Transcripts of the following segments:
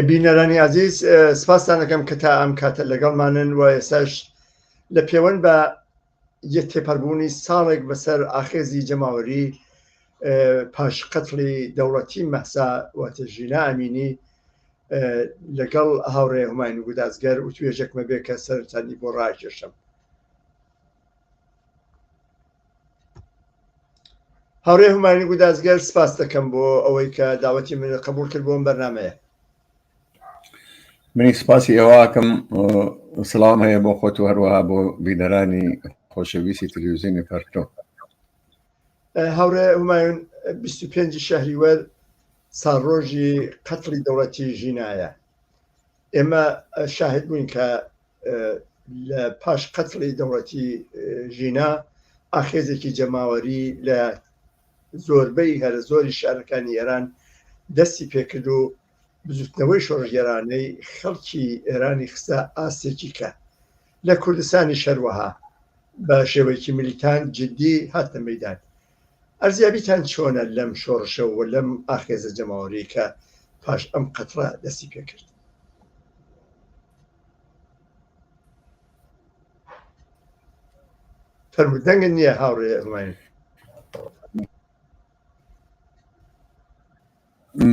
بینەرانی عزیز سپاستان دەکەم کە تا ئەم کاتە لەگەڵمانن و ئێساش لە پێوەند بە یە تێپەربوونی ساڵێک بەسەر ئاخێزی جەماوەری پاش قەتڵی دەوڵەتی مەسا واتەژینا ئەمینی لەگەڵ هاوڕێ هوماین و گودازگەر و توێژێکمە بێ کە سەرتانی بۆ ڕاکێشم هەڕێ هومانی گودازگەر سپاس دەکەم بۆ ئەوەی کە داوەتی من قبول کرد بۆم بەرنمەیە منی سپاسی ئێواکەم سلام هەیە بۆ خۆت و هەروەها بۆ بینەرانی خۆشەویستی تلویزیۆنی پەرتۆ هاورێ هومایون 25 شهری وەر ساڕۆژی قەتڵی دەوڵەتی ژینایە ئێمە شاهد بووین کە لە پاش قەتڵی دەوڵەتی ژینا ئاخێزێکی جەماوەری لە زۆربەی هەرە زۆری شارەکانی ئێران دەستی پێکرد و بزوتنەوەی شۆڕژگەرانەی خەڵکی ئێرانی خستە ئاستێکی کە لە کوردستانی شەروەها بە شێوەیەکی ملیتان جددی هاتە مەدان ئەرزیابیتان چۆنە لەم شۆڕشەوە لەم ئاخێزە جەماوەری کە پاش ئەم قەتڕە دەستی پێکرد فەرموو دەنگت نییە هاوڕێ ئەزمانی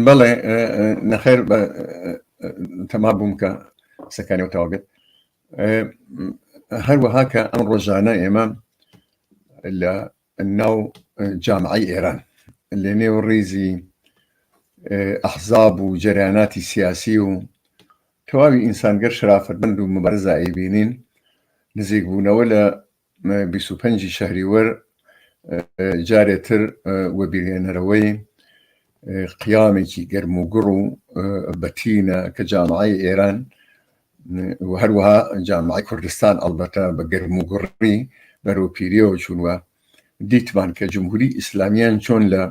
بەڵێ نەخێر بە تەما بووم کە قسەکانی و تاوابێت هەروەها کە ئەم ڕۆژانە ئێمە لە ناو جامعەی ئێران لەنێو ڕیزی ئەحزاب و جەریاناتی سیاسی و تەواوی ئینسانگەر شرافەتمەند و مبارزایی بینین نزیکبوونەوە لە 25 شهری وەر جارێتر وەبیرێنەرەوەی قیامێکی گەرموگوڕ و بەتینە کە جامعی ئێران و هەروەها جامعەی کوردستان ئەڵبەتە بە گەرم و گوڕی بەرەو پیریەوە چوون و دیتمان کە جمهوری ئیسلامیان چۆن لە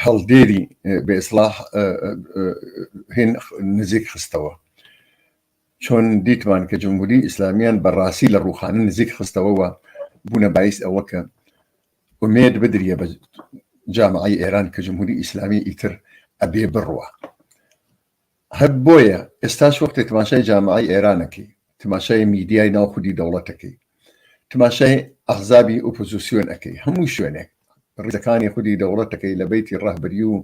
هەڵدێری بێسلاح هێن نزیک خستەوە چۆن دیتمان کە جمهوری ئیسلامیان بە ڕاستی لە ڕووخانە نزیک خستەوە و بوونە بایس ئەوە کە ئومێد بدریە بە جامعی ئێران کە جمهوری ئیسلامی ئیتر ئەبێ بڕوە هەر بۆیە ئێستاش وەختێ تماشای جامعی ئێرانەکەی تماشای میدیای ناو خودی دەوڵەتەکەی تماشای ئەغزابی ئۆپۆزیسیۆن ئەەکەی هەموو شوێنێک ڕیزەکانی خودی دەوڵەتەکەی لە بەیتی ڕەهبەری و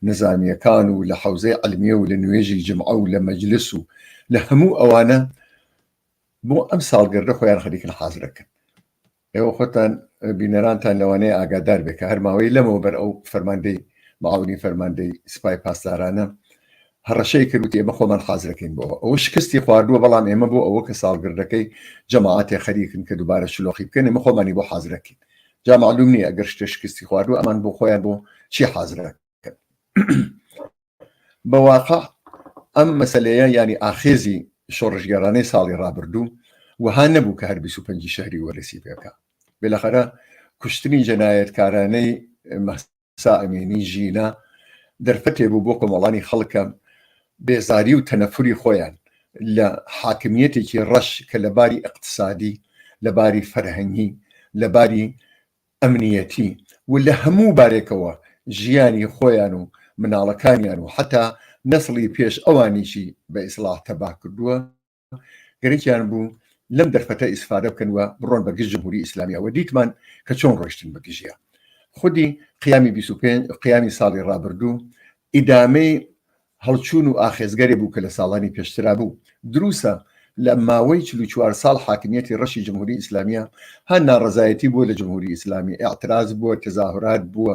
نزامییەکان و لە حەوزەی عەلمیە و لە نوێژی جمعە و لە مەجلس و لە هەموو ئەوانە بۆ ئەم ساڵگردە خۆیان خەریکن حازرەکەن ئێوە خۆتان بینەرانتان لەوانەیە ئاگادار بێ کە هەرماوەی لەمەوە بەر ئەو فەرماندەی معاونی فەرماندەی سپای پاسدارانە هەڕەشەی کرد وتی ئێمە خۆمان حازر دەکەین بۆ ئەوە شکستی خواردووە بەڵام ئێمە بۆ ئەوە کە ساڵگردەکەی جەماعەتێ خەریکن کە دووبارە شلۆقی بکەن ئێمە خۆمانی بۆ حازر دەکەین جا معلوم نییە ئەگەر شتێ شکستی خواردووە ئەمان بۆ خۆیان بۆ چی حازر دەکەن بە واقع ئەم مەسلەیە ینی ئاخێزی شۆڕشگەرانەی ساڵی ڕابردوو وەها نەبوو کە هەر 25 شهری وەرسی پێکە بێلەخەرە کوشتنی جەنایەتکارانەی مەست سا ئەمینی ژینا دەرفەتێ بوو بۆ کۆمەڵانی خەڵکە بێزاری و تەنەفوری خۆیان لە حاکمیەتێکی ڕەش کە لە باری ئەقتصادی لە باری فەرهەنگی لە باری ئەمنیەتی و لە هەموو بارێکەوە ژیانی خۆیان و مناڵەکانیان و حتا نەسڵی پێش ئەوانیشی بە ئیسلاح تەبا کردووە گەرەکیان بوو لەم دەرفەتە ئیسفادە بکەن و بڕۆن بە گشت جمهوری ئیسلامیەوە دیتمان کە چۆن ڕۆشتن بە گژە خودی قیامی 25 قیامی ساڵی ڕابردوو ئیدامەی هەڵچوون و ئاخێزگەری بوو کە لە ساڵانی پێشترا بوو دروسە لە ماوەی چوار ساڵ حاکمیەتی ڕەشی جمهوری ئیسلامیە هە ناڕزایەتی بووە لە جمهوری ئیسلامی ئاعتراز بووە تەزاهرات بووە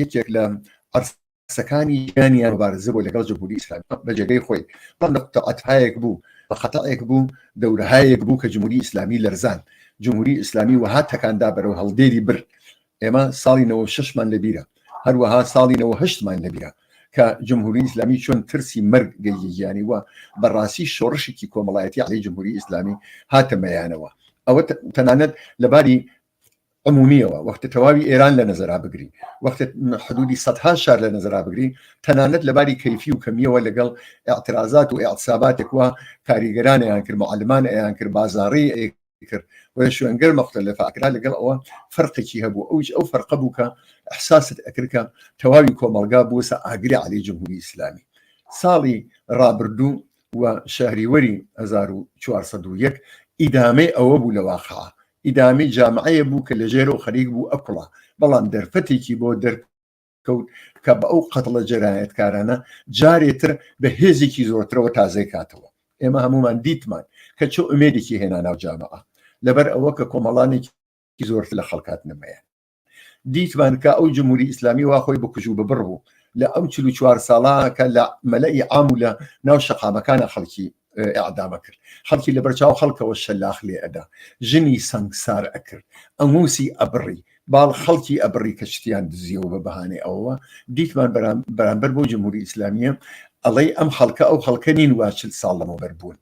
یەکێک لە عەرسەکانی ژیانیان مبارزە بۆ لەگەڵ جمهوری ئیسلامی بە جێگەی خۆی بەڵام لە قەتعەتهایەک بوو بە خەتەئێک بوو دەورهایەک بوو کە جمهوری ئیسلامی لەرزان جمهوری ئیسلامی وەها تەکاندا بەرەو هەڵدێری بر ئێمە ساڵی 96مان لەبیرە هەروەها ساڵی 98مان لەبیرە کە جمهوری ئیسلامی چۆن ترسی مەرگ گەیگیانی وە بەڕاستی شۆڕشێکی کۆمەڵایەتی علی جمهوری ئیسلامی هاتەمەیانەوە ئەوە تەنانەت لەباری عمومیەوە وەختە تەواوی ئێران لە نەزەرا بگرین وەختە حدودی سەدها شار لە نەزەرا بگرین تەنانەت لەباری کەیفی و کەمیەوە لەگەڵ اعترازات و اعتساباتێک وە کاریگەرانیان کرد معلمان ئەیان کرد بازاری کرد و شوێنگەر مەختە لە فاکرا لەگەڵ ئەوە فەرقێکی هەبوو ئەوش ئەو فەرقە بوو کە احساست ئەکرکە تەواوی کۆمەلگا بووسە ئاگری علی جمهوری ئیسلامی ساڵی ڕابردوو و شهریوەری 1940 ئیدامەی ئەوە بوو لە واقع ئیدامەی جامعەیە بوو کە لەژێرەوە خەریک بوو ئەکوڵا، بەڵام دەرفەتێکی بۆ دەرکەوت کە بە ئەو قەتڵە جەنایەتکارانە جارێ تر بە هێزێکی زۆرترەوە تازەی کاتەوە. ئێمە هەموومان دیتمان کە چ ئومێدێکی هێنا ناو جامعە، لەبەر ئەوە کە کۆمەڵانێکی زۆرتر لە خەڵک هاتنە مەیان. دیتمان کە ئەو جمهوری ئیسلامی وا خۆی بکوژ و ببڕ بوو لە ئەو چل چوار ساڵا کە لە مەلەی عام و لە ناو شەقامەکانە خەڵکی ئەعدامە کرد خەڵکی لە بەرچاو خەڵکەوە شەلاخ لێ ئەدا ژنی سەنگسار ئەکرد ئەنگوسی ئەبڕی باڵ خەڵکی ئەبڕی کە شتیان دزیەوە بە بەهانێ ئەوە دیتمان بەرامبەر بۆ جمهوری ئیسلامیە ئەڵەی ئەم خەڵکە ئەو خەڵکە نین واچل ساڵ لەمەوبەر بوون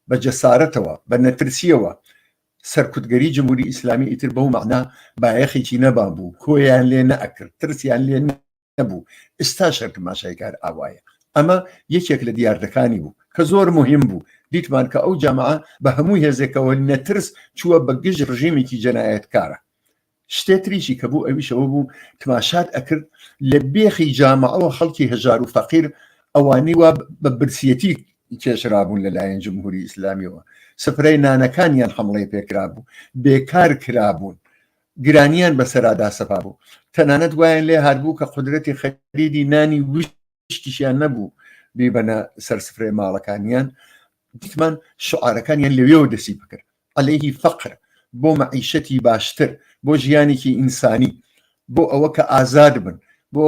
بە جەسارەتەوە بە نەترسیەوە سەرکوتگەری جمهوری ئیسلامی ئیتر بەو مەعنا بایەخێکی نەبابوو کۆیان لێ نەئەکرد ترسیان لێ نەبوو ئستا شەرکماشای کار ئاوایە ئەمە یەکێک لە دیاردەکانی بوو کە زۆر مهم بوو دیتمان کە ئەو جامعە بە هەموو هێزێکەوە نەترس چووە بە گژ ڕژیمێکی جەنایەتکارە شتێ تریشی کە بوو ئەویش ئەوە بوو تماشات ئەکرد لە بێخی جامعەوە خەڵکی هەژار و فەقیر ئەوانی وا بە برسیەتی کێشرابوون لەلایەن جمهوری ئیسلامیەوە سفرەی نانەکانیان حمڵەی پێکرا بوو بێکار کرابوون گرانیان بەسەرادا سەپا بوو تەنانەت وایان لێ هاربوو کە قدرەتی خەریدی نانی وشک شتیشیان نەبوو بیبەنە سەر سفرەی ماڵەکانیان دیتمان شعارەکانیان لەوێەوە دەسی بکرد عليهەیهی فەقر بۆ مەعیشەتی باشتر بۆ ژیانێکی ئینسانی بۆ ئەوە کە ئازاد بن بۆ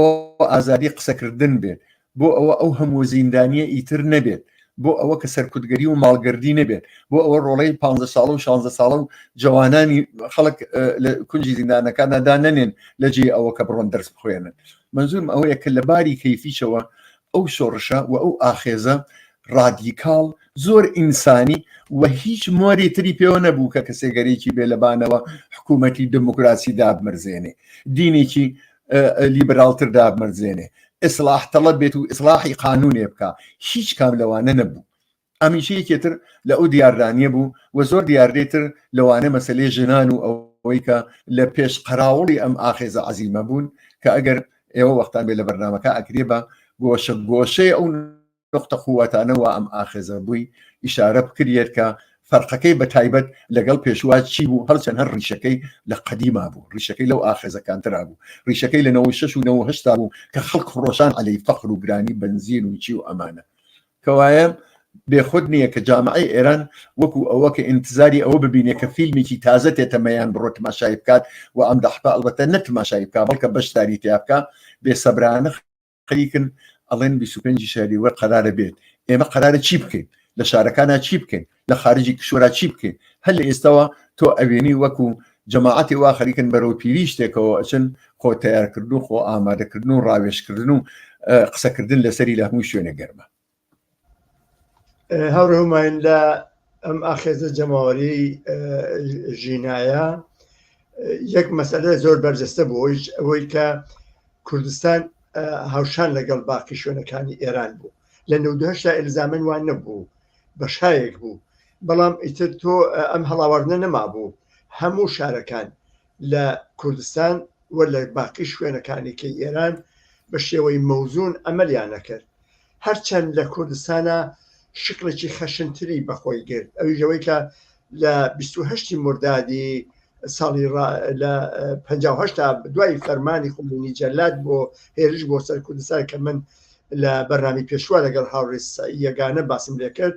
ئازادی قسەکردن بێت بۆ ئەوە ئەو هەموو زیندانیە ئیتر نەبێت بۆ ئەوە کە سەرکوتگەری و ماڵگردی نەبێت بۆ ئەوە ڕۆڵەی 15 ساڵ و 16 ساڵە و جوانانی خەڵک لە کونجی زیندانەکاندا نەنێن لە جێ ئەوە کە بڕۆن دەرس بخوێنن مەنزورم ئەوەیە کە لە باری کەیفیشەوە ئەو شۆڕشە و ئەو ئاخێزە ڕادیکاڵ زۆر ئینسانی و هیچ مۆری تری پێوە نەبوو کە کەسێگەرێکی بێ لەبانەوە حکوومەتی دموکراسی دابمرزێنێ دینێکی لیبراڵتر دابمرزێنێ ئیسلاح تەڵە بێت و ئیسلاحی قانونێ بکە هیچ کام لەوانە نەبوو ئەمیش یەکێ تر لە ئەو دیاردانیە بوو و زۆر دیاردەی تر لەوانە مەسەلەی ژنان و ئەوەی کە لە پێش قەراوڵی ئەم ئاخێزە عەزیمە بوون کە ئەگەر ئێوە وەختان بێ لە بەرنامەکە ئەکرێ بە گۆشە گۆشەی ئەو نوقتە قووەتانە وا ئەم ئاخێزە بووی ئیشارە بکریەت کە فەرقەکەی بە تایبەت لەگەڵ پێشوا چی بوو هەرچەند هەر ڕیشەکەی لە قەدیما بوو ڕیشەکەی لەو ئاخێزەکانترا بوو ڕیشەکەی لە 96 و 9 هشتا بوو کە خەڵک خڕۆشان عەلەی فەخر و گرانی بنزین و چی و ئەمانە کەوایە بێ خود نییە کە جامعەی ئێران وەکو ئەوە کە ئینتزاری ئەوە ببینێ کە فیلمیکی تازە تێتە مەیان بڕۆ تماشای بکات و ئەم دەحپە ئەڵبەتە نە تماشای بکا بەڵکە بەشداری تیا بکا بێ سەبرانە خەریکن ئەڵێن 25 شاری وەر قەرارە بێت ئێمە قەرارە چی بکەین لە شارەکانە چی بکەین لە خارجی کشوەرا چی بکەین هەر لە ئێستاوە تۆ ئەوێنی وەکو جەماعەتی وا خەریکن بەرەو پیری شتێکەوە ئەچن خۆ تیارکردن و خۆ ئامادەکردن و ڕاوێشکردن و قسەکردن لەسەری لە هەموو شوێنە گەرمە هەڕێماین لە ئەم ئاخێزە جەماوەری ژینایە یەک مەسەلە زۆر بەرجەستە بۆ هیچ ئەوەی کە کوردستان هاوشان لەگەڵ باقی شوێنەکانی ئێران بوو لە نەودهشتا ئلزامن وان نەبوو بەشایەک بوو بەڵام ئیتر تۆ ئەم هەڵاواردنە نەمابوو هەموو شارەکان لە کوردستان و لە باقی شوێنەکانی کە ئێران بە شێوەی مەوزون ئەمەلیان نەکرد هەرچەند لە کوردستانە شکڵێکی خەشنتری بەخۆی گرت ئەویش ئەوەی کە لە بیست و هەشتی مردادی ساڵی ڕا لە پەنجا و هەشتا دوای فەرمانی خومینی جەلاد بۆ هێرش بۆ سەر کوردستان کە من لە بەرنامی پێشوە لەگەڵ هاوڕێ سەعی یەگانە باسم لێ کرد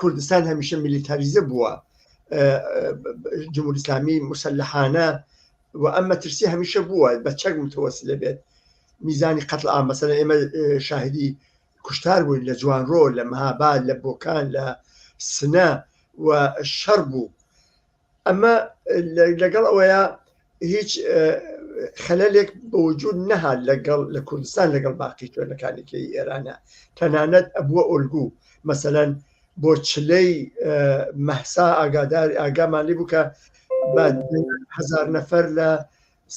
کوردستان هەمیشە میلیتاریزە بووە ئە، ئە، جمهوری اسلامی مسلحانە و ئەم مەترسی هەمیشە بووە بە چەک متوەسلە بێت میزانی قتل ئامەسەە ئێمە ئە، شاهدی کوشتار بووین لە جوانڕۆ لە مەهاباد لە بۆکان لە سنە و شەڕ بوو ئەمە لەگەڵ ئەوەیە هیچ خەلەلێک بە وجود نەها لەگەڵ لە کوردستان لەگەڵ باقی شوێنەکانێکی ئێرانە تەنانەت ئەبووە ئۆلگو مەسەەن بۆ چلەی مەحسا ئاگادار ئاگامان لێ بوو کە هزار نەفەر لە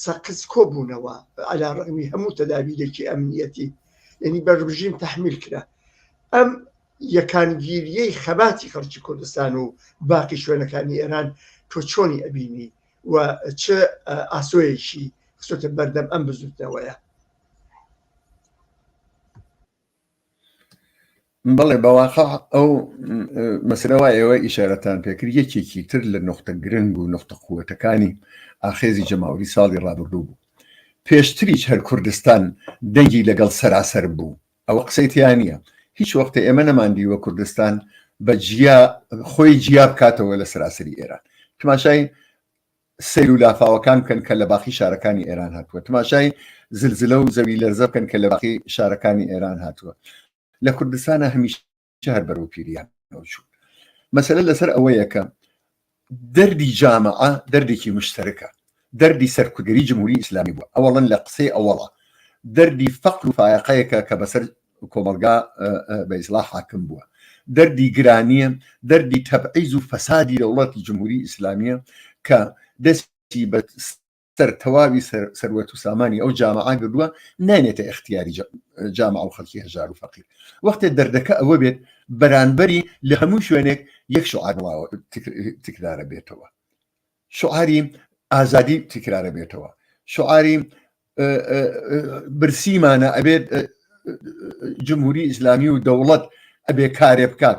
سەقز کۆبوونەوە عەلا ڕەغمی هەموو تەدابیرێکی ئەمنیەتی یعنی بە ڕژیم تحمیل کرا ئەم یەکانگیریەی خەباتی خەڵکی کوردستان و باقی شوێنەکانی ئێران تۆ چۆنی ئەبینی و چ ئاسۆیەکی خسۆتە بەردەم ئەم بزوتنەوەیە بەڵێ بەواقع ئەو مەسرەوە ئێوە ئیشارەتان پێکرد یەکێکی تر لە نقطە گرنگ و نقطە قوتەکانی ئاخێزی جەماوری ساڵی ڕابردوو بوو پێشتریش هەر کوردستان دەنگی لەگەڵ سەراسەر بوو ئەوە قسەی تیان نییە هیچ وەختە ئێمە نەماندیوە کوردستان بە جیا خۆی جیا بکاتەوە لە سەراسری ئێران تماشای سیر و لافاوەکان بکەن کە لە باقی شارەکانی ئێران هاتووە تماشای زلزلە و زەوی لەرزە بکەن کە لە باقی شارەکانی ئێران هاتووە لە کوردستانە هەمیشە هەر بەرەو پیریان چوو مەسەلە لەسەر ئەوەیەکە دەردی جامعە دەردێکی مشتەرەکە دەردی سەرکودری جمهوری ئیسلامی بوو ئەوڵەن لە قسەی ئەوڵە دەردی فەقل و فاەقەیەکە کە بەسەر کۆمەلگا بە ئیسلا حاکم بووە دەردی گرانیە دەردی تەبعیز و فەسادی دەوڵەتی جمهوری ئیسلامیە کە دەستی بە سەر تەواوی سەروەت و سامانی ئەو جامعا گردووە نانێتە اختیاری جامع و خەڵکی هەژار و فەقیر وەختێ دەردەکە ئەوە بێت بەرانبەری لە هەموو شوێنێک یەک شعارواوە تکرارە بێتەوە شعاری ئازادی تکرارە بێتەوە شعاری برسیمانە ئەبێت جمهوری ئیسلامی و دەوڵەت ئەبێ کارێ بکات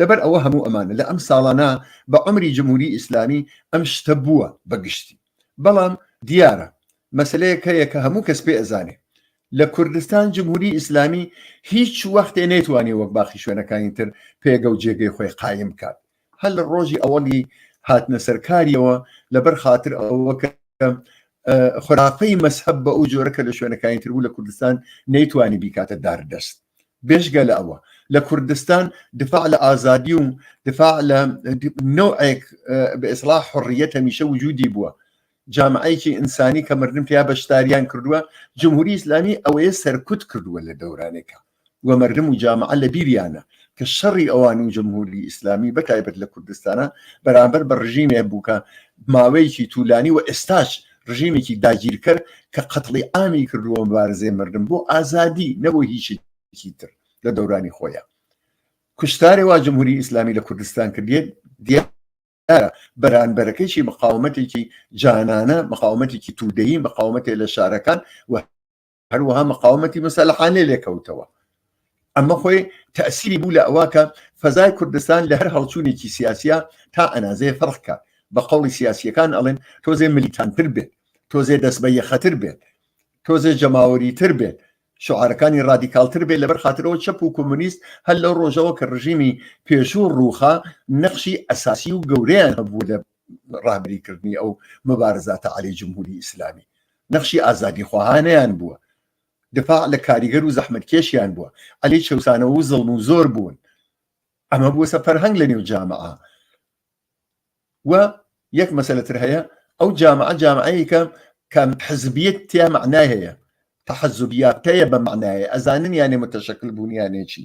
لەبەر ئەوە هەموو ئەمانە لە ئەم ساڵانە بە عەمری جمهوری ئیسلامی ئەم شتە بووە بە گشتی بەڵام دیارە مەسلەیەک هەیە کە هەموو کەس پێ ئەزانێ لە کوردستان جمهوری ئیسلامی هیچ وەختێ نەیتوانێ وەک باقی شوێنەکانی تر پێگە و جێگەی خۆی قایم بکات هەر لە ڕۆژی ئەوەڵی هاتنە سەرکاریەوە لەبەر خاطر ئەوە کە خراپەی مەسحب بە ئەو جۆرە کە لە شوێنەکانی تربوو لە کوردستان نەیتوانی بیکاتە داردەست بێجگە لە ئەوە لە کوردستان دفاع لە ئازادی و دفاع لە نوعێک بە ئێسڵا حڕیەت هەمیشە وجودی بووە جامعەیەکی ئینسانی کە مردن پێیا بەشداریان کردووە جمهوری ئیسلامی ئەوەیە سەرکوت کردووە لە دەورانێکە و مردم و جامعە لە بیریانە کە شەڕی ئەوان و جمهوری ئیسلامی بەتایبەت لە کوردستانە بەرامبەر بە ڕژیمێ بووکە ماوەیەکی تولانی و ئێستاش ڕژێمێکی داگیرکەر کە قەتڵی ئامی کردووە مبارزەی مردن بۆ ئازادی نەبوو هیچێکی تر لە دەورانی خۆیان کوشتارێ وا جمهوری ئیسلامی لە کوردستان کردێت دیار بەرانبەرەکەیشی مقاومەتێکی جانانە مقاومەتێکی تودەیی مقاومەتێ لە شارەکان و هەروەها مقاومەتی مەسەلحانێ لێکەوتەوە ئەمە خۆی تەسیری بوو لە ئەوواکە فەزای کوردستان لە هەر هەڵچوونێکی سیاسە تا ئەنازێ فڕکە بە قوڵی سیاسیەکان ئەڵێن تۆزێ ملیتانتر بێت تۆزێ دەست بە یەخەتر بێت تۆزێ جەماوەری تر بێت شعارەکانی رادیکالتر بێت لەبەر خاطرەوە چەپ و کۆمونیست هەر لەو ڕۆژەوە کە ڕژیمی پێشوو ڕووخا نەخشی ئەساسی و گەورەیان هەبوو لە ڕابری کردنی ئەو مبارزە تەعالی جمهوری ئیسلامی نەخشی ئازادی خواهانیان بووە دفاع لە کاریگەر و زەحمت کێشیان بووە ئەلی چەسانەوە و زڵم و زۆر بوون ئەمە بووە سە فەرهەنگ لە نێو جامعە و یەک مەسەلتر هەیە ئەو جامعە جامعەیەکە کەم حزبیت تیا معنای هەیە تحزبیات هەیە بە معنایە ئەزانن یانێ متەشکل بوونیانێکی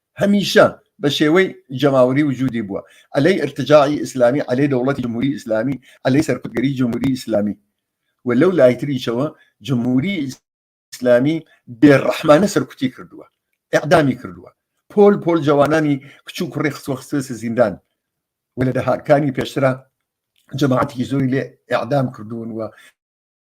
هەمیشە بە شێوەی جەماوەری وجودی بووە عەلەی ئیرتجاعی ئیسلامی عەلەی دەوڵەتی جمهوری ئیسلامی عەلەی سەرکوتگەری جمهوری ئیسلامی و لەو لای تریشەوە جمهوری ئیسلامی بێڕەحمانە سەرکوتی کردووە ئەعدامی کردووە پۆل پۆل جوانانی کچ و کوڕی خستوە خستێسە زیندان و لە دەهاتکانی پێشترا جەماعەتێکی زۆری لێ ئەعدام کردوون و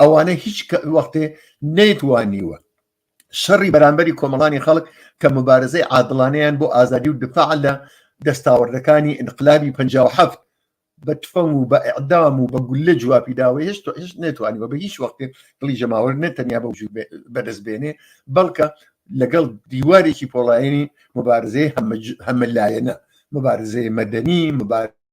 ئەوانە هیچ وەختێ نەیتوانیوە شەڕی بەرامبەری کۆمەڵانی خەڵک کە مبارزەی عادڵانیان بۆ ئازادی و دفاع لە دەستاوەردەکانی انقلابی 1950 بە تفەنگ و بە ئەعدام و بە گولە جوابی داوە هێشت هێشت نێتوانیوە بە هیچ وەختێ دڵی جەماوەر نەتەنیا بە وجود بەدەست بێنێ بەڵکە لەگەڵ دیوارێکی پۆڵایانی مبارزەی هەمە لایەنە مبارزەی مەدەنی مبارز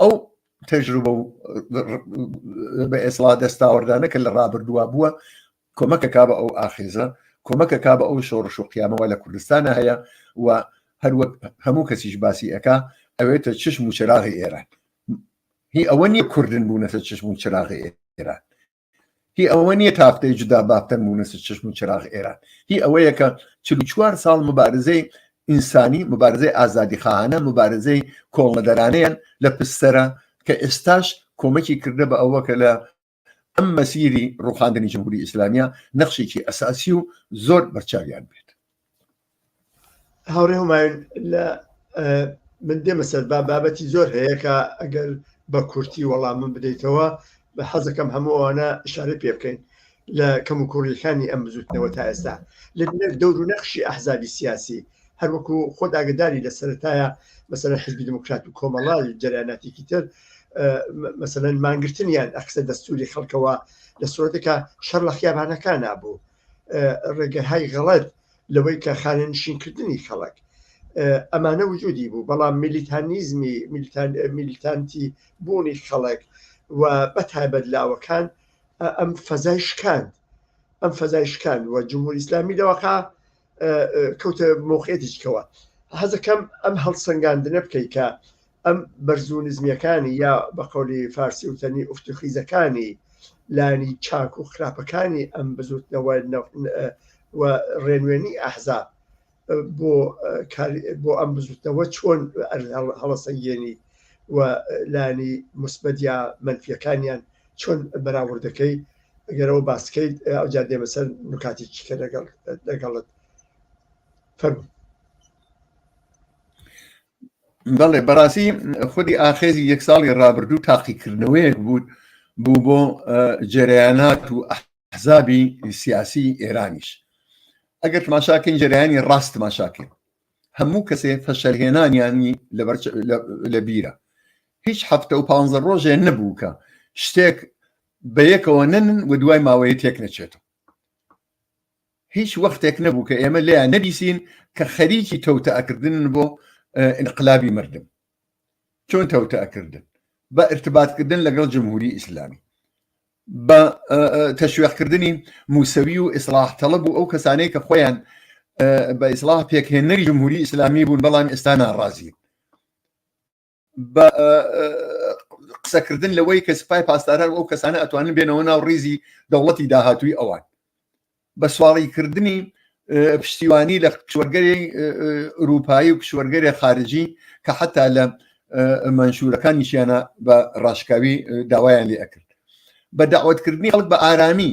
ئەو تەجروبە و بە ئێسڵا دەستاوەردانە کە لە ڕابردووە بووە کۆمەکە کا بە ئەو ئاخێزە کۆمەکە کا بە ئەو شۆڕش و قیامەوە لە کوردستانە هەیە و هەروەک هەموو کەسیش باسی ئەکا ئەوێتە چشم و چراغی ئێران هی ئەوە نییە کوردن بوونەتە چشم و چراغی ئێران هی ئەوە نییە تافتەی جودا بابتەن بوونەسە چشم و چراغ ئێران هی ئەوەیە کە چل چوار ساڵ مبارزەی ئینسانی مبارزەی ئازادی خانە مبارزەی کۆڵنەدەرانەیان لە پستەرە کە ئێستاش کۆمەکی کردە بە ئەوە کە لە ئەم مەسیری ڕوخاندنی جمهوری ئیسلامیە نەخشێکی ئەساسی و زۆر بەرچاویان بێت هاوڕێ هەمایون لە من دێمە سەر با بابەتی زۆر هەیەکە ئەگەر بە کورتی وەڵام من بدەیتەوە بە حەزەکەم هەموو ئەوانە شارە پێ بکەین لە کەم و کوڕیەکانی ئەم بزوتنەوە تا ئێستا لە دەور و نەخشی ئەحزابی سیاسی هەروەکو خۆ داگداری لە سەرتایە مەسەر حزبی دموکرات و کۆمەڵا جەراناتێکی تر مەسەن مانگرتنیان ئەخسە دەستوری خەڵکەوە لە سرۆتەکە شەر لە خیابانەکان نبوو ڕێگەهای غەڵەت لەوەی کە خانەنشینکردنی خەڵک ئەمانە وجودی بوو بەڵام میلیتانیزمی میلیتانتی بوونی خەڵک و بە تایبەت لاوەکان ئەم فەزای شکاند ئەم فەزای شکاند و جمهور ئیسلامی لەوەقا کەوتە مۆقعێتیشکەوە حەزەکەم ئەم هەڵسەنگاندنە بکەیت کە ئەم بەرز و نزمیەکانی یا بە قەولی فارسی وتەنی ئوفت و خیزەکانی لانی چاک و خراپەکانی ئەم بزوتنەوە و ڕێنوێنی ئەحزاب بۆ بۆ ئەم بزوتنەوە چۆن هەڵەسەنگێنی و لانی مسبەت یا منفیەکانیان چۆن بەراوردەکەی گەرەوە باسکەیت ئەو جا دێمە سەر نکاتی چیکە لەگەڵ لەگەڵت فەرمو بەڵێ بەڕاستی خودی ئاخێزی یەک ساڵی ڕابردوو تاقیکردنەوەیەک بوو بوو بۆ جەریانات و حزابی سیاسی ئێرانیش ئەگەر ماشاکەین جەریانی ڕاست ماشاکەین هەموو کەسێ فەشەلهێنانیانی لە بیرە هیچ هەفتە و پ ڕۆژێ نەبوو کە شتێک بە یەکەوە نەن و دوای ماوەیە تێک نەچێتەوە هیچ وەختێک نەبوو کە ئێمە لێیان نەبیسین کە خەریکی تەوتەکردن بۆ انقلابی مردم چۆن تەوتەکردن بە ارتباطکردن لەگەڵ جمهوری ئیسلامی بە تەشوێقکردنی موسەوی و ئیسلاح تەڵب و ئەو کەسانەی کە خۆیان بە ئیسلاح پێکهێنەری جمهوری ئیسلامی بوون بەڵام ئێستا ناڕازین قسەکردن لەوەی کە سپای پاسداران ئەو کەسانە ئەتوانن بێنەوە ناو ڕیزی دەوڵەتی داهاتووی ئەوان بە سواڵی کردنی پشتیوانی لە کشوەرگەری ئوروپایی و کشوەرگەری خارجی کە حتا لە منشورەکانیشیانە بە ڕاشکاوی داوایان لێ ئەکرد بە داوتکردنی ئەڵک بە ئارامی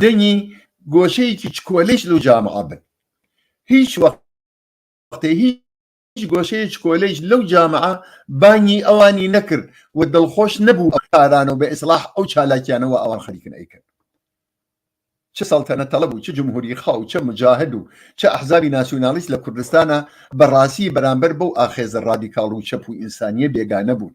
دەنگی گۆشەیەکی چکۆلەیش لەو جامعە بن هیچ وە ختێ هیچ گۆشەیە چکۆلەیش لەو جامعە بانگی ئەوانی نەکرد و دڵخۆش نەبوو ئەو کارانە و بە ئیسلاح ئەو چالاکیانە وا ئەوان خەریکن ئەیکەن چ سەڵتەنە تەڵەب و چ جمهوری خا و چ مجاهد و چ ئەحزابی ناسیونالیست لە کوردستانا بە ڕاسی بەرامبەر بەو ئاخێزە ڕادیکاڵ و چەپ و ئینسانیە بێگانە بوون.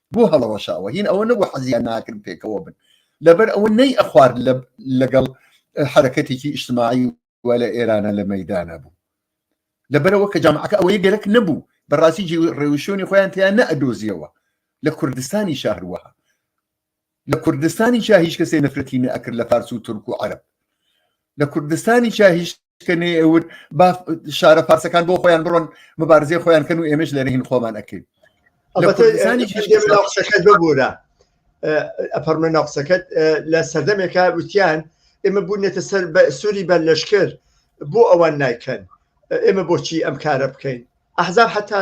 بۆ هەڵەوەشاوە هین ئەوە نەبوو حەزیان ناکرد پێکەوە بن لەبەر ئەوە نەی ئەخوارد لەگەڵ حرەکەتێکی ئیشتماعی و لە ئێرانە لە مەدانە بوو لەبەرەوە کە جامعەکە ئەوەی گەرەک نەبوو بەڕاستی ڕێوشۆنی خۆیان تیان نە ئەدۆزیەوە لە کوردستانی شەهروەها لە کوردستانیشا هیچ کەسێ نەفرەتی نەئەکرد لە فارس و تورک و عەرەب لە کوردستانیشا هیچ کە نێور با شارە فارسەکان بۆ خۆیان بڕۆن مبارزەی خۆیان کەن و ئێمەش لەرە هین خۆمان ئەکەین لە کوردستانی قسەکەت ببوورە ئەپەرمە ناقسەکەت لە سەردەمێکە وتیان ئێمە بوونێتە سەر بە سووری بە لەشکر بۆ ئەوان نایکەن ئێمە بۆچی ئەم کارە بکەین ئەحزاب حتا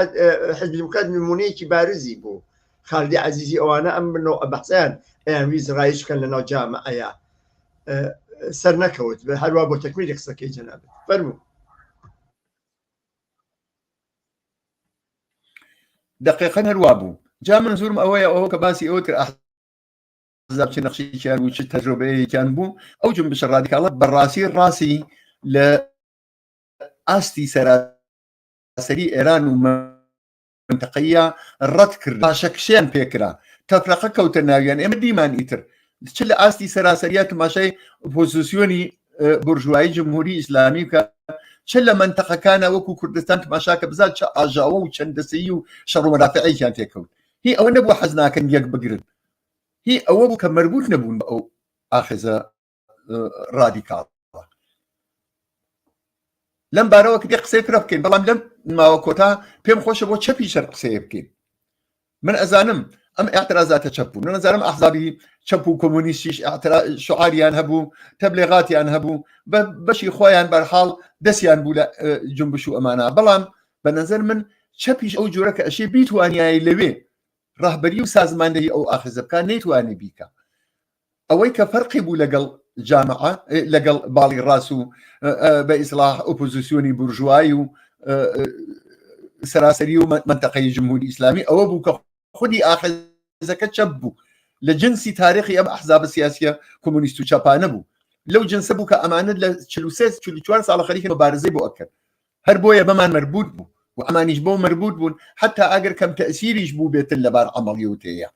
حزبیمکات نمونەیەکی بارزی بوو خالدی عزیزی ئەوانە ئەم بنەوە بەحسیان ئەیان ویز ڕایش بکەن لە ناو جامە ئەیا سەر نەکەوت بە هەروە بۆ تەکویری قسەکەی جەنابێت فەرمو دقیقا هەروە بوو جا من زورم ئەوەیە ئەوە کە باسی ئەوە کرد زابچ نەخشیان و چ تەجرۆبەیەکیان بوو ئەو جم بشە ڕادیکاڵە بەڕاستی ڕاستی لە ئاستی سەراسەری ئێران و منتەقەییە ڕەت کرد پاشەکشیان پێکرا تەفرەقە کەوتە ناویان ئێمە دیمان ئیتر چ لە ئاستی سەراسەریە تماشای پۆزیسیۆنی بورژوایی جمهوری ئیسلامی بکە چ لە منتەقەکانە وەکو کوردستان تماشاکە بزان چە ئاژاوە و چەندەسەی و شەڕوەرافعەیان تێکەوت هی ئەوە نەبوو حەزناکەن یەک بگرن هی ئەوە بوو کە مەربوت نەبوون بە ئەو ئاخێزە ڕادیکاڵ لەم بارەوە کە قسەی فرە بکەین بەڵام لەم ماوە کۆتا پێم خۆشە بۆ چەپی شەر قسەیە بکەین من ئەزانم ئەم اعترازاتە چەپ بوو نەزانم ئەحزابی چەپ و کۆمۆنیستیش شعاریان هەبوو تەبلێغاتیان هەبوو بە بەشی خۆیان بەرحاڵ دەستیان بوو لە جنبش و ئەمانە بەڵام بە نظر من چەپیش ئەو جۆرە کە ئەشێ بیتوانایی لەوێ ڕهبەری و سازماندەی ئەو ئاخزە بکان نەیتوانێ بیکە ئەوەی کە فەرقی بوو لەگەڵ جامعە لەگەڵ باڵی ڕاست و بە ئیسلاح ئۆپۆزیسیۆنی بورژوایی و سەراسەری و منتەقەی جمهوری ئیسلامی ئەوە بوو کە خودی ئاخزەکە چەپ بوو لە جنسی تاریخی ئەم ئەحزاب سیاسیە کۆمونیست و چەپانە بوو لەو جنسە بوو کە ئەمانە لە 44 ساڵە خەریکە مبارزەی بۆ ئەکرد هەر بۆیە بەمان مربوط بوو و ئەمانیش بۆ مربوط بوون حتا ئەگەر کەم تەسیریش بوو بێتن لەبار ئەمەڵی وتەیە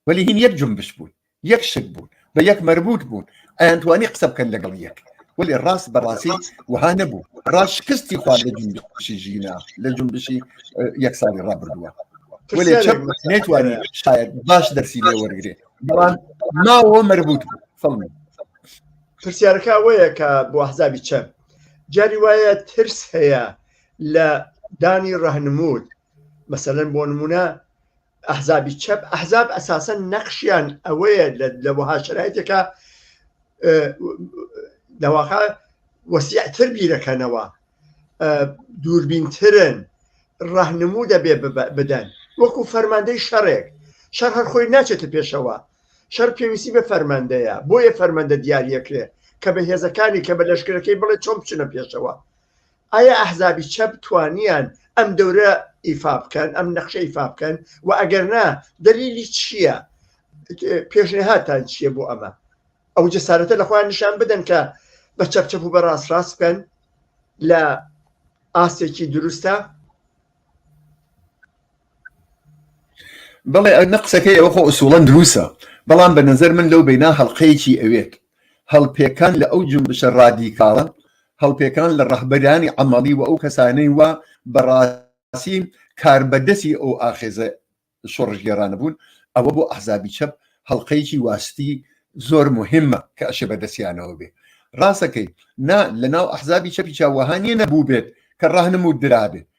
وەلی هین یەک جنبش بوون یەک شت بوون بە یەک مەربوط بوون ئەیانتوانی قسە بکەن لەگەڵ یەک وەلی ڕاست بەڕاستی وها نەبوو ڕاست شکستی خوارد لە جنبشی ژینا لە جنبشی یەک ساڵی ڕابردووە وەلی چەپ نەیتوانی شاید باش دەرسی لێ وەرگێ بەڵام ناوە مەربوط بوو فەڵمی پرسیارەکە وەیە کە بۆ حزابی چەپ جاری وایە ترس هەیە لە دانی ڕەهنمود مەسەن بۆ نمونە ئەحزابی چەپ ئەحزاب ئەساسەن نەخشیان ئەوەیە لە وەها شرایتێکە دەواقع وەسیعتر بیرەکەنەوە دووربینترن ڕەهنموو دەبێ بدەن وەکو فەرماندەی شەڕێک شەر هەر خۆی ناچێتە پێشەوە شەر پێویستی بە فەرماندەیە بۆیە فەرمەندە دیارەکرێ کە بە هێزەکانی کە بە لەشکرەکەی بڵێ چۆن بچنە پێشەوە ئایا ئەحزابی چەپ توانیان ئەم دەورە ئیفا بکەن ئەم نەخشە ئیفا بکەن و ئەگەر نا دەلیلی چییە پێشنهاتان چییە بۆ ئەمە ئەو جەسارەتە لە خۆیان نیشان بدەن کە بە چەپ چەپ و بە ڕاست ڕاست بکەن لە ئاستێکی دروستە بەڵێ ئەو نە قسەکەی ئەو خۆ ئوسوڵەن دروسە بەڵام بە نظر من لەو بینا هەڵلقەیەکی ئەوێت هەڵپێکان لە ئەو جونبشە ڕادیکاڵە، هەڵپێکان لە ڕەهبەرانی عەمەڵی و ئەو کەسانەی وا بە ڕاستی کاربەدەسی ئەو ئاخێزە شۆڕشگێڕانە بوون، ئەوە بۆ ئەحزابی چەپ هەڵقەیەکی واستی زۆر موهیمە کە ئەشێ بە دەستیانەوە بێ. ڕاستەکەی، نا، لە ناو ئەحزابی چەپیچا وەها نیە نەبووبێت کە ڕەهنموو درابێ،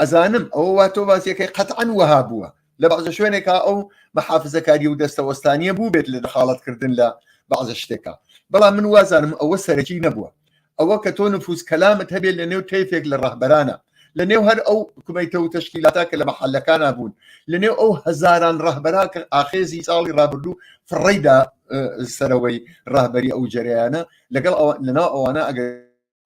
ئەزانم ئەوە وا تۆ باسیەکەی قەتعەن وەها بووە لە بەعزە شوێنێکا ئەو مەحافزەکاری و دەستەوەستانیە بوو بێت لە دەخاڵەتکردن لە بەعزە شتێکە بەڵام من وازانم ئەوە سەرەکی نەبووە ئەوە کە تۆ نفوس کەلامت هەبێت لە نێو تەیفێک لە ڕەهبەرانە لە نێو هەر ئەو کومیتە و تەشکیلاتا کە لە مەحلەکانە بوون لە نێو ئەو هەزاران ڕەهبەرا کە ئاخێزی ساڵی ڕابردوو فڕیدا سەرەوەی ڕاهبەری ئەو جەریانە لەگەڵ لەناو ئەوانە ئەگەر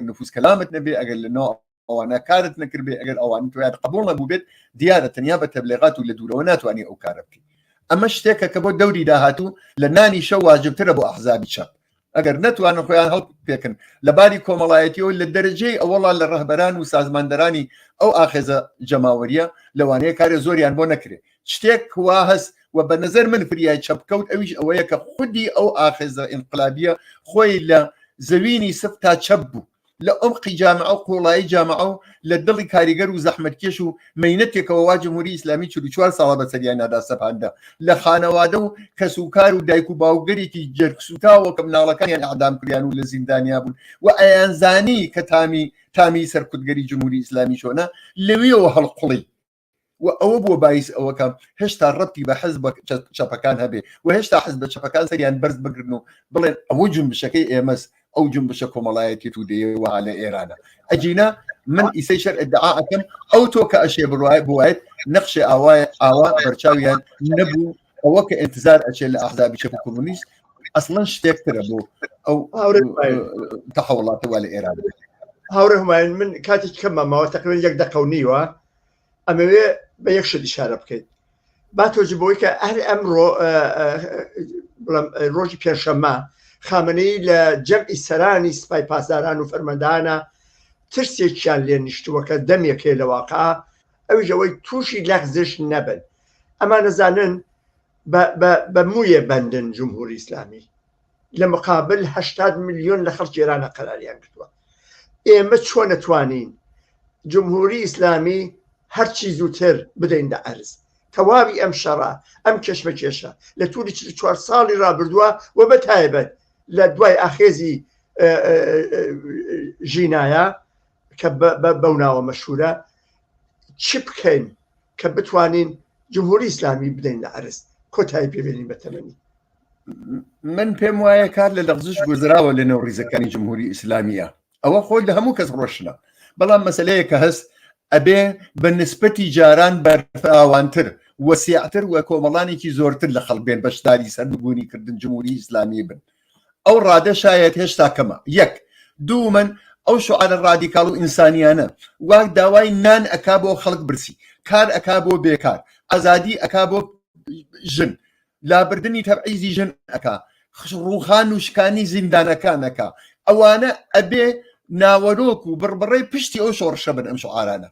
نفوس کەلامت نەبێ ئەگەر لە ناو ئەوانە کارت نەکردێ ئەگەر ئەوان تویان قبول نەبوو بێت دیارە تەنیا بە تەبلێغات و لە دوورەوە ناتوانانی ئەو کارە بکەیت ئەمە شتێکە کە بۆ دەوری داهاتوو لە نانی شە واجبترە بۆ ئەحزابی چەپ ئەگەر نتوانن خۆیان هەڵ پێکن لە باری کۆمەڵایەتیەوە لە دەرەجەی ئەوەڵا لە ڕەهبەران و سازماندەرانی ئەو ئاخێزە جەماوەریە لەوانەیە کارە زۆریان بۆ نەکرێت شتێک وا هەست و بە نظر من فریای چەپکەوت ئەویش ئەوەیە کە خودی ئەو ئاخێزە ئینقلابیە خۆی لە زەوینی سف تا چەپ بوو لە ئۆمقی جامع و قوڵایی جامع و لە دڵی کاریگەر و زەحمەتکێش و مینەتێکەوە وا جمهوری ئیسلامی چ چوار ساڵە بە سەریان نادا سەپاندە لە خانەوادە و کەس و کار و دایک و باوگەرێکی جەرگسوتاوە کە مناڵەکانیان ئەعدام کریان و لە زیندانیا بوون و ئەیانزانی کە تامی تامی سەرکوتگەری جمهوری ئیسلامی چۆنە لەوێەوە هەڵقوڵی و ئەوە بووە بایس ئەوەکە هێشتا ڕەتی بە حز چەپەکان هەبێ و هێشتا حز بە چەپەکان سەریان بەرز بگرن و بڵێن ئەوە جنبشەکەی ئێمەس ئەو جنبشە کۆمەڵایەتی تو دەیەوە لە ئێرانە ئەجینا من ئیسەی شەر ئەدعاکەم ئەو تۆ کە ئەشێ بڕایە بواێت نەخشێ ئاوایە ئاوا بەرچاویان نەبوو ئەوە کە ئینتزار ئەچێت لە ئەحزابی چەپ کۆمونیست ئەسڵەن شتێکترە بۆ ئەو تەحوڵاتەوە لە ئێران هاورێ هەمایان من کاتێک کەمە ماوە تەقلێن یەک دەقەونیوە ئەمەوێ بە یەک شت شارە بکەیت با تۆجی بۆی کە هەر ئەمڕۆ ڕۆژی پێشەممە خامنەی لە جەمعی سەرانی سپای پاسداران و فەرمەدانە ترسێکیان لێ نیشتووە کە دەمێکێ لە واقع ئەوژەوەی تووشی لەغزش نەبن ئەمانەزانن بە مویە بەندن جمهوری ئسلامی لە مقابل هەشتاد ملیۆن لە خەڵکی ئێرانە قەراریان کردووە ئێمە چۆن نەتوانین جمهوری ئیسلامی هەرچی زووتر بدەین لە ئەرز تەواوی ئەم شەڕە ئەم کێشمە کێشە لە تووری چوار ساڵی رابردووە و بە تایبەت لە دوای ئاخێزی ژینایە کە بەو ناوە مەشهورە چ بکەین کە بتوانین جمهوری ئیسلامی بدەین لە ئەرز کۆتایی پێبێنین بە تەمەنی من پێم وایە کار لە لەغزش گوزراوە لە نێو ڕیزەکانی جمهوری ئیسلامیە ئەوە خۆ لە هەموو کەس ڕۆشنە بەڵام مەسلەیە کە هەست ئەبێ بە نسبەتی جاران بەرفراوانتر وەسیعتر و کۆمەڵانێکی زۆرتر لە خەڵک بێن بەشداری سەربگونی کردن جمهوری ئیسلامی بن ئەو ڕادە شایەت هێشتا کەمە یەک دوو من ئەو شعاە ڕادیکاڵ و ئینسانیانە واک داوای نان ئەکا بۆ خەڵک برسی کار ئەکا بۆ بێکار ئازادی ئەکا بۆ ژن لابردنی تەبعیزی ژن ئەکا ڕوخان و شکانی زیندانەکان ئەکا ئەوانە ئەبێ ناوەرۆک و بڕبڕەی پشتی ئەو شۆڕشە بن ئەم شعارانە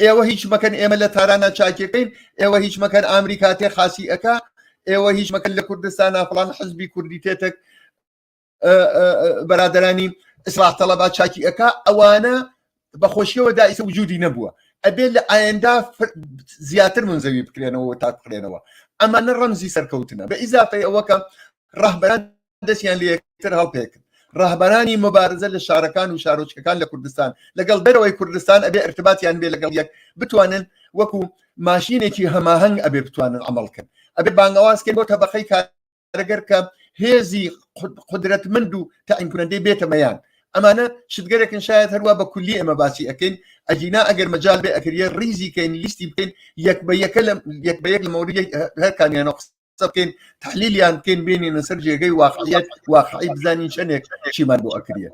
ئێوە هیچ مەکەن ئێمە لە تارانە چاکیەکەین ئێوە هیچ مەکەن ئامریکا تێ خاسی ئەکا ئێوە هیچ مەکەن لە کوردستانە فڵان حزبی کوردی تێتەک بەرادرانی ئیسلاح تەڵەبا چاکی ئەک ئەوانە بەخۆشیەوە دایسە وجودی نەبووە ئەبێت لە ئاەندا زیاتر من زەوی بکرێنەوە تا بکرێنەوە ئەمانە ڕەمزی سەرکەوتنە بە ئیزافی ئەوەکە ڕەهبەران دەستیان لەکتر هەڵپێکن ڕهبەرانی مبارزە لە شارەکان و شارۆچکەکان لە کوردستان لەگەڵ دەرەوەی کوردستان ئەبێ ارتباتیان بێ لەگەڵ یەک بتوانن وەکو ماشینێکی هەماهنگ ئەبێ بتوانن ئەمەڵکن ئەبێ بانگەوازکرد بۆ تەبقەی کار ئەگەر کە هێزی قدرەت مند و تاینکردەی بێتە مەیان ئەمانە شتگەرەکن شاید هەروە بە کولی ئەمە باسی ئەەکەین ئەجینا ئەگەر مەجال بێ ئەکریە ریزی کەین لیستی بکەین یەک بە یەکە لە یەک بە یەک لە مەوری هەرکانیان قسە بکەین تحلیلیان بکەین بینین سەر جێگەی واقعیت واقعی بزانین چەندێک چیمان بۆ ئەکرێت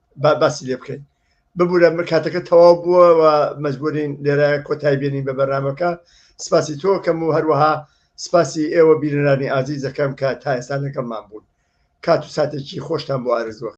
باسی لێ بکەین ببوورە کاتەکە تەواو بووە و مەجبورین لێرە کۆتای بێنین بە بەرنمەکە سپاسی تۆ کەم و هەروەها سپاسی ئێوە بیررانی ئازیز دەکەم کە تا ئێستا لەگەڵمان بوون کات و ساتێکی خۆشتان بۆ ئارزوە